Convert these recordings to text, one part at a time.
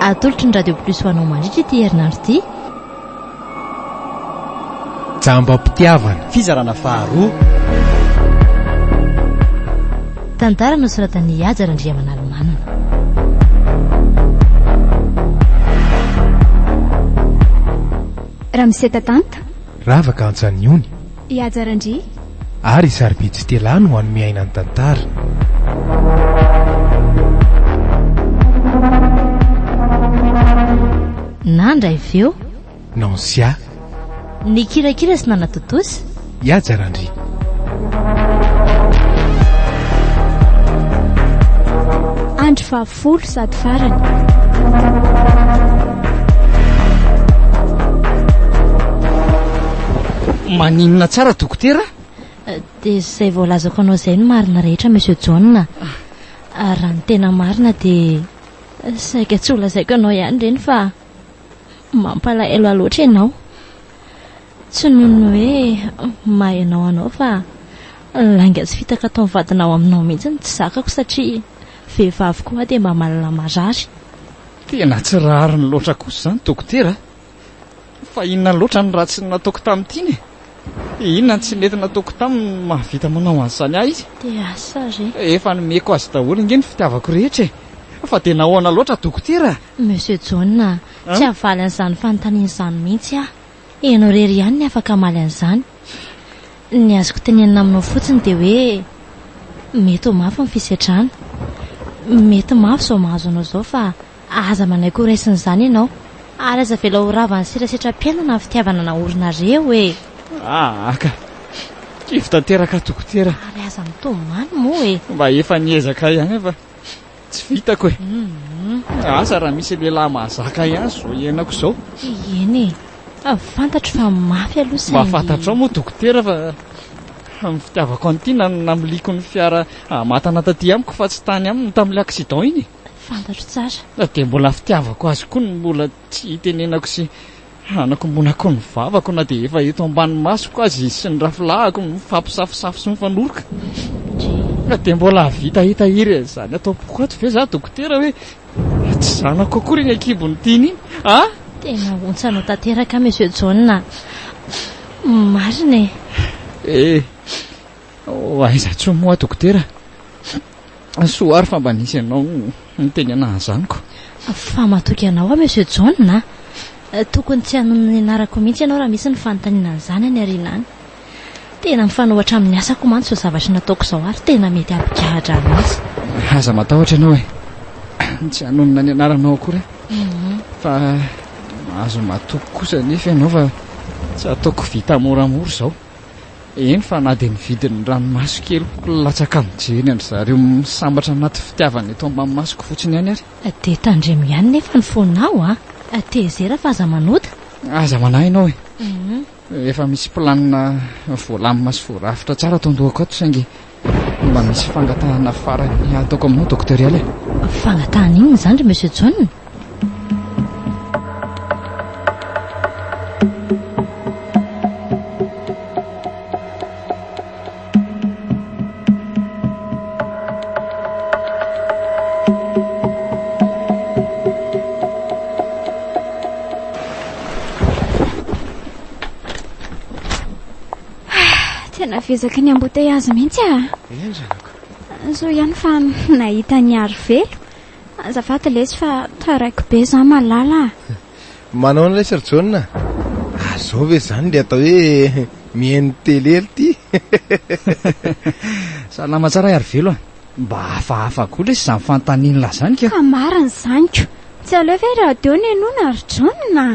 Atolotry ny Radio Plus ho anao mandritra ity herinandro ity. Jambam-pitiavana. Fizarana faharoa. Tantara nosoratan'i Haja Randriamanalomanana. Ramose Tatanta. Ravaka Antsaniony. I Haja Randria. Ary i Sarobidy Stella no hanome aina ny tantara. Nandra i Veo. Nancia. Nikirakira sy nanatontosa. I Haja Randria. Andry Fafo. Folo sady farany. Maninona tsara dokotera a? Dia izay voalazako anao izay no marina rehetra Monsieur John a. Ary raha ny tena marina dia saika tsy holazaiko anao ihany ireny fa mampalahelo ahy loatra ianao. Tsy noho ny hoe mahay anao anao fa lainga sy fitaka ataon'ny vadinao aminao mihitsy no tsy zakako satria vehivavy koa aho dia mba mahalala marary. Tena tsy rariny loatra kosa izany dokotera a! Fa inona loatra no ratsy nataoko tamin'ity iny e? Inona no tsy nety nataoko taminy no mahavita manao an'izany ahy izy? DH, Re. Efa nomeko azy daholo ange ny fitiavako rehetra e! Fa dia nahoana loatra dokotera? Monsieur John a! Tsy havaly an'izany fanontaniana izany mihitsy aho. Ianao irery ihany ny afaka hamaly an'izany. Ny azoko tenenina aminao fotsiny dia hoe mety ho mafy ny fisedrana. Mety mafy izao mahazo anao izao fa aza manaiky ho raisin'izany ianao ary aza avela ho ravan'ny serasetram-piainana ny fitiavana naorinareo e! Aa ka! Kivy tanteraka dokotera. Ary aza mitomany moa e! Mba efa niezaka ihany aho fa Tsy vitako e! Asa raha misy lehilahy mahazaka ahy ihany izao iainako izao. Eny e! Fa fantatro fa mafy aloha saingy. Mba fantatrao moa dokotera fa ny fitiavako an'i Tiana no namiliako ny fiara hamatana taty amiko fa tsy tany aminy tamin'ilay accident iny e! Fantatro tsara. Dia mbola fitiavako azy koa no mbola tsy itenenako sy. Hanakombona koa ny vavako na dia efa eto ambany masoko aza izy sy ny rafilahiko mifampisafosafo sy mifanoroka. Ka dia mbola hahavita hitahiry an'izany ato am-poko ato ve izaho dokotera hoe tsy zanako akory iny an-kibon'ny tiany iny a! Tena ontsa anao tanteraka Monsieur John a! Marina e! Eh! Oh, aiza tsoa moa dokotera? Soa ary fa mba nisy ianao niteny anah azaniko. Fa matoky anao aho Monsieur John a! Tokony tsy hanono ny anarako mihitsy ianao raha misy ny fanontaniana an'izany any aoriana any. Tena mifanohitra amin'ny asako mantsy izao zavatra nataoko izao ary tena mety hampigahadra ahy mihitsy. Aza matahotra ianao e! Tsy hanonona ny anaranao akory aho. Mhm. Fa mahazo matoky kosa anefa ianao fa tsy ataoko vita moramora izao. Eny fa na dia ny vidin'ny ranomaso keliko latsaka mijery an-dry zareo misambatra anaty fitiavana eto am-bamamasoko fotsiny ihany ary. Dia tandremo ihany nefa ny fonao a! Tezera fa aza manota. Aza manahy ianao e! Efa misy planina voalamina sy voarafitra tsara ato an-dohako ato saingy. Mba misy fangatahana farany ataoko aminao Docteur Ella e. Fangatahana inona izany ry Monsieur John? Tena vezaky ny embouteillage mihitsy ah. Eny zanaka. Zo ihany fa nahita ny aro velo. Azafady lesy fa taraiko be za malala ah. Manao an'ilay Sir John ah. Ary zao ve zany ilay atao hoe mihaino télé ry ty. Salama tsara ry velo ah. Mba hafahafa koa lesy zany fantaninla zany ka. Ka marina zany ko. Tsy aleo ve radio no henoina ry John ah.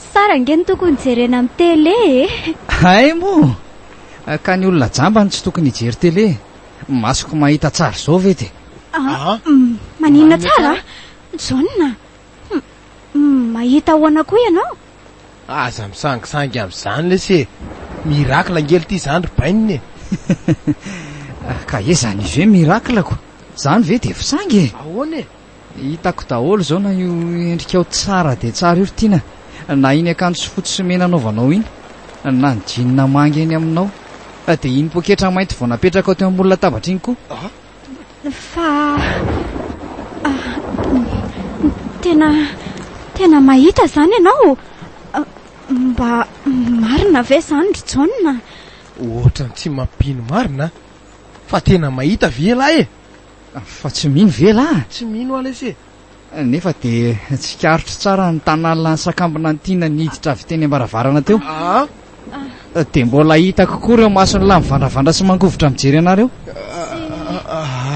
Tsara ange ny tokony jerena am télé e! Hay moa! Ka ny olona jamba no tsy tokony hijery télé? Masoko mahita tsara izao ve dia. Aa! Maninona tsara? Jaona! Mahita ahoana koa ianao? Aza misangisangy amin'izany lesy e! Miracle ange ity izany ry bainina e! Ka ezany ve miracle ko? Izany ve dia fisangy e! Ahoana e! Hitako daholo izao na io endrikao tsara dia tsara io ry Tiana, na iny akanjo fotsy sy mena anaovanao iny, na ny jeans manga eny aminao, dia iny poketra mainty vao napetrakao teo ambony latabatra iny koa. Fa tena tena mahita izany ianao? Mba marina ve izany ry Jaona? Ohatran'ny tsy mampino marina an! Fa tena mahita ve ialahy e? Fa tsy mino ve lah? Tsy mino aho lesy e! Nefa dia tsikaritro tsara ny tanallan'ny sakambina ntiana niditra avy teny ambaravarana teo. Ah? Dia mbola hitako koa ireo masony lahy mivandravandra sy mangovitra mijery anareo.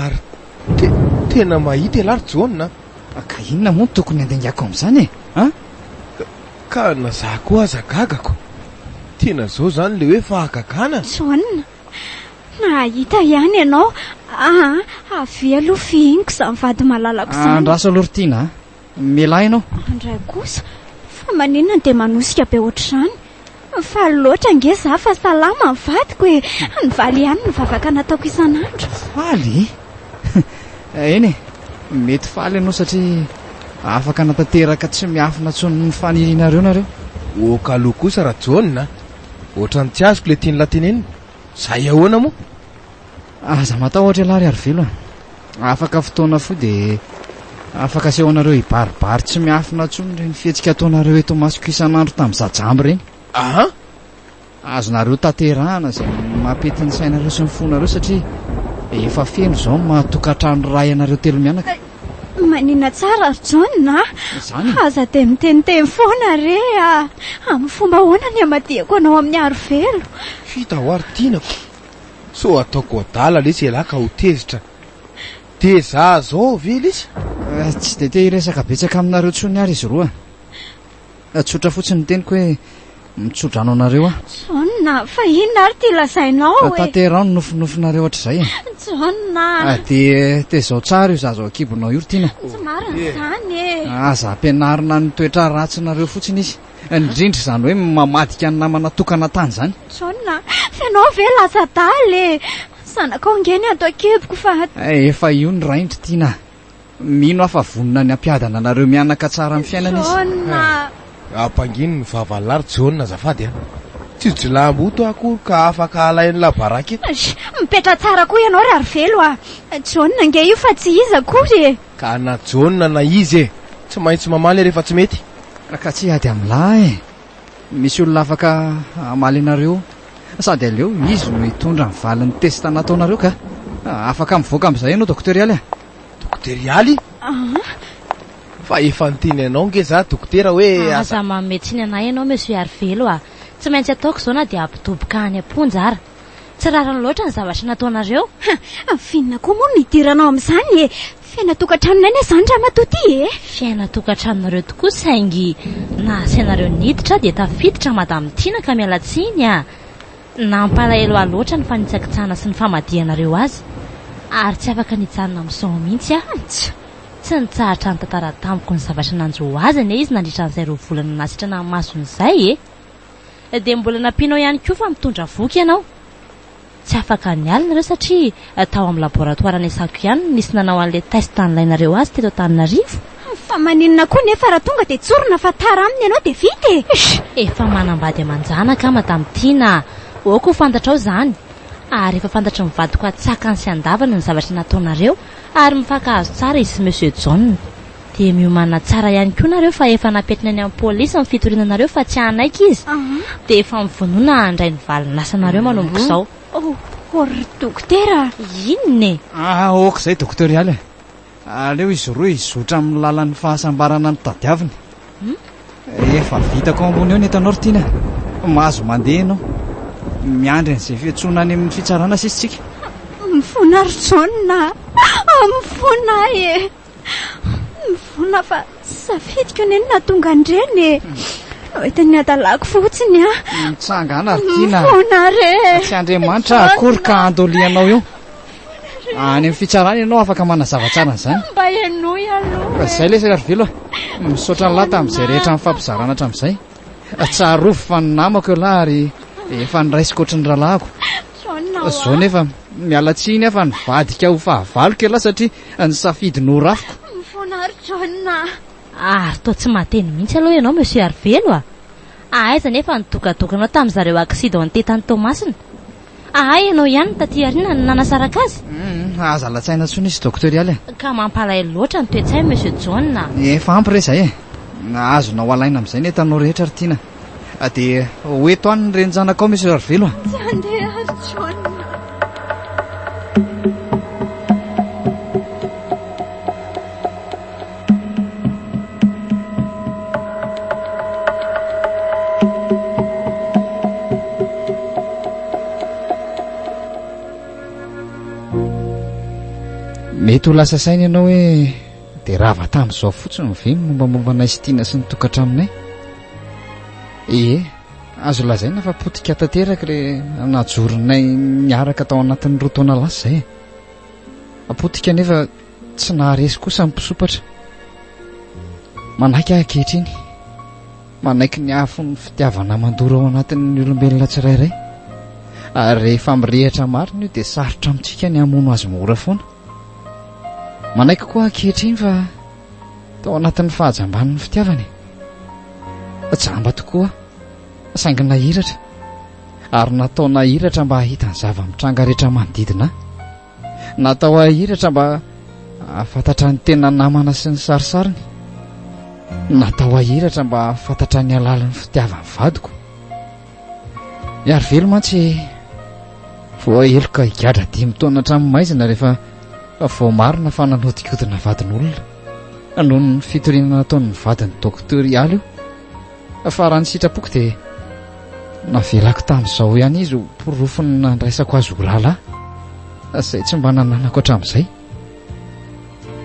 Ary te, tena mahita elah ry Jaona. Ka inona moa no tokony handengako amin'izany e? Ah? Ka na za koa aza gagako. Tena zao zany le hoe fahagagana? Jaona, Mahita ihany ianao aa! Avia aloha fihiniko izany vady malalako izany. Andraso aloha ry Tiana a! Mialà ianao. Andray kosa, fa maninona dia manosika be ohatr'izany? Faly loatra ange za fa salama ny vadiko e! Nivaly ihany ny vavaka nataoko isan'andro. Faly? Eny e, mety faly ianao satria afaka hanatanteraka tsy miafina intsony ny fanirianareo nareo. Oka aloha kosa Rajaona a! Ohatran'ny tsy azoko le tian'lah tenenina. Zay ahoana moa? Aza matahotra elah ry Arivelo a! Afaka fotoana fohy dia afaka asehonareo hibaribary tsy miafina intsony ireny fihetsika ataonareo eto imasoko isan'andro tamin'izaho jamba ireny. Aha! Azonareo tanterahana izay mampety ny sainareo sy ny fonareo satria efa feno izao ny maha-tokantrano iray anareo telo mianaka. Manina tsara ry John a! Izany e! Aza dia miteniteny foana re a! Amin'ny fomba ahoana ny hamadihako anao amin'ny arovelo? Vita ho aho ry tinako! Sao ataoko adala lesy ialahy ka ho tezitra. Dia za zao ve lesy? Tsy dia te hiresaka betsaka aminareo intsony ary izy roa. Eh, tsotra fotsiny ny teniko hoe mitsodrano anareo aho. Jaona, fa inona ary ty lazainao eh? Tanterao ny nofinofinareo hatrizay eh. Jaona. Ah, dia tezao tsara io zaza ao an-kibonao io, Tina. Tsy marina eh. izany eh. Aza ampianarina ny toetra ratsinareo fotsiny izy. Indrindra izany hoe mamadika ny namana tokana tany izany. Jaona, fenao ve latsa-daly eh? Zanakao nge ny ato an-kiboko fa... Eh, efa io ny raindry, Tina. Mino aho fa vonona ny hampiadana anareo mianaka tsara amin'ny fiainana izy. Jaona! Ampangino ny vava la ry Jaona azafady a! Tsy jilahimboto aho akory ka afaka halain'ny labaraky eto. Sh! Mipetraha tsara koa ianao Rarovelo a! Jaona ange io fa tsy iza akory e! Ka na Jaona na iza e! Tsy maintsy mamaly rehefa tsy mety. Ka tsy hiady amin'lah e! Misy olona afaka hamaly anareo sady aleo izy no hitondra ny valin'ny testa nataonareo ka. Afaka mivoaka amin'izay ianao Dokotera Ialy a. Dokotera Ialy? Fa efa niteny anao nge za Dokotera hoe aza. Aza manome tsiny anay ianao Monsieur Yarivelo a. Tsy maintsy ataoko izao na dia hampidoboka any am-ponja ara. Tsy rariny loatra ny zavatra nataonareo. Hah! F'inona koa moa no hidiranao amin'izany e? Fiainan-tokantranonay ne izany ramatoa ty e! Fiainan-tokantranonareo tokoa saingy naha asainareo niditra aho dia tafiditra Madame Tiana ka miala tsiny a! Nampalahelo ahy loatra ny fanitsakitsahana sy ny famadihanareo azy ary tsy afaka nijanona misao mihitsy aho. Tsia! Tsy nitsahatra nitantara tamiko ny zavatra nanjo azy anie izy nandritra an'izay roa volana nasitrana ny masony izay e! Dia mbola nampianao ihany koa fa mitondra voky ianao. Tsy afaka niala nareo satria tao amin'ny laboratoire Nesako ihany no nisy nanao an'ilay test nilainareo azy teto Antananarivo. Fa maninona koa nefa raha tonga dia tsorina fa tara aminy ianao dia vita e! Eish! Efa manambady aman-janaka aho Madame Tiana a! Aoka ho fantatrao izany. Ary efa fantatry ny vadiko an-tsakany sy an-davany ny zavatra nataonareo ary mifankahazo tsara izy sy Monsieur John. Dia miomana tsara ihany koa nareo fa efa napetrina eny amin'ny polisy ny fitoriana anareo fa tsy hanaiky izy dia efa mivonona handray ny valin'asanareo manomboka izao. Oh, ry dokotera a! Inona e? Ah, ok izay doktorialy a! Aleo izy roa hizotra amin'ny lalan'ny fahasambarana notadiaviny. Efa vitako ao ambony eo ny entanao ry Tiana. Mahazo mandeha ianao. Miandry an'izay fiantsoana any amin'ny fitsarana sisa isika. Mifona ry Jaona a! Mifona aho e! Nivona fa tsy safidiko ny inona tonga an-dreny e. Nahita ny hadalako fotsiny a. Mitsangana ry Tina. Mifona re. Tsy Andriamanitra akory ka andolianao io. Any amin'ny fitsarana ianao afaka manazava tsara an'izany. Mba henoy aloha. Fa izay lesy ry Vilo. Misaotra an'lah tamin'izay rehetra nifampizarana hatramin'izay. Tsarovy fa ny namako ialahy ary efa niraisiko ohatry ny rahalahiko. Izao nefa miala tsiny aho fa nivadika ho fahavaloko ialahy satria Ny safidy norafiko. Mifoana ry John a! Ary toa tsy mahateny mihitsy aloha ianao Monsieur Arivelo a! Ahaiza anefa ny dokadokanao tamin'ny zareo accidente tany Toamasina? Ahay ianao ihany no taty aoriana no nanasaraka azy? Hum, aza latsaina intsony izy Docteur Ialy a! Ka mampalahelo loatra ny toe-tsainy Monsieur John a! Efa ampy re izay e! Azonao alaina amin'izay ny entanao rehetra ry Tiana. Ah dia ho eto any ny renin-janakao Monsieur Arivelo a. Tsy handeha ary John. Mety ho lasa saina ianao hoe Dia rava tamin'izao fotsiny ve ny mombamomba anay Stina sy ny tokantranonay? Ie, azo lazaina fa potika tanteraka ilay najoronay niaraka tao anatin'ny roa taona lasa izay e. Potika anefa tsy naharesy kosa ny mpisompatra. Manaiky aho ankehitriny. Manaiky ny afo ny fitiavana mandoro ao anatin'ny olombelona tsirairay. Ary rehefa mirehitra marina io dia sarotra amintsika ny hamono azy mora foana. Manaiky koa aho ankehitriny fa tao anatin'ny fahajamban'ny fitiavana e. Jamba tokoa aho, saingy nahiratra, ary natao nahiratra mba hahita ny zava-mitranga rehetra manodidina ahy. Natao hahiratra mba hahafantatra ny tena namana sy ny sarisariny. Natao hahiratra mba hahafantatra ny halalin'ny fitiavan'ny vadiko. Miaro velo mantsy vao heloka higadra dimy taona hatramin'ny maizina rehefa vao marina fa nanodikodina vadin'olona noho ny fitoriana nataon'ny vadin'ny dokotera ialy io. Fa raha ny sitrapoko dia navelako tamin'izao ihany izy ho porofony nandraisako azy ho rahalahy izay tsy mba nananako hatramin'izay.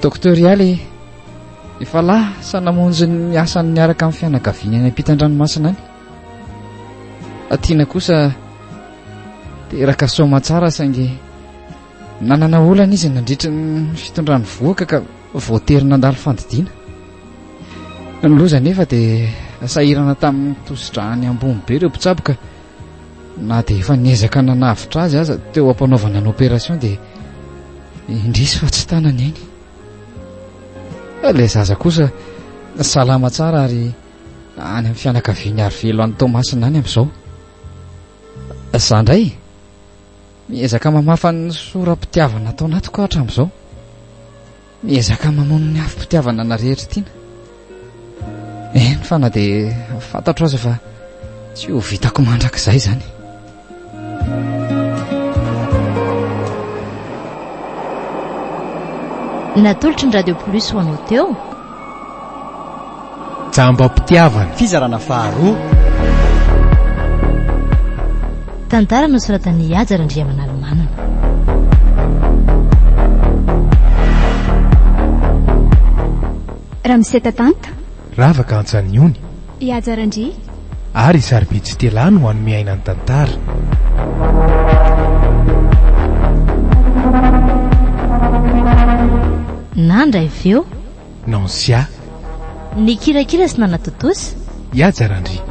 Dokotera ialy efa lasa namonjy ny asany niaraka amin'ny fianakaviany any am-pitan-dranomasina any. Atina kosa teraka soma tsara saingy nanana olana izy nandritry ny fitondrany vohoka ka voatery nandalo fandidiana. Ny loza nefa dia sahirana tamin'ny tosidrahany ambony be ireo mpitsaboka na dia efa niezaka nanavotra azy aza teo am-panaovana ny opération dia indrisy fa tsy tanany eny. Ilay zaza kosa salama tsara ary Any amin'ny fianakavian'i Arivelo any Toamasina any amin'izao. Izaho indray miezaka mamafa ny sora-pitiavana ato anatiko aho hatramin'izao. Miezaka mamono ny afom-pitiavana ana rehetra tiana. Eny fa na dia fantatro aza fa tsy ho vitako mandrakizay izany. Natolotry ny Radio Plus ho anao teo. Jambam-pitiavana. Fizarana faharoa. Tantara nosoratan'i Haja Randriamanalomanana. Ramseta Tanta. Ravaka Antsanihony. I Haja Randria. ary sarobidy sy telany ho an'ny miaina ny tantara. Nandra i Veo. Nancia. Nikirakira sy nanatontosa. I Haja Randria.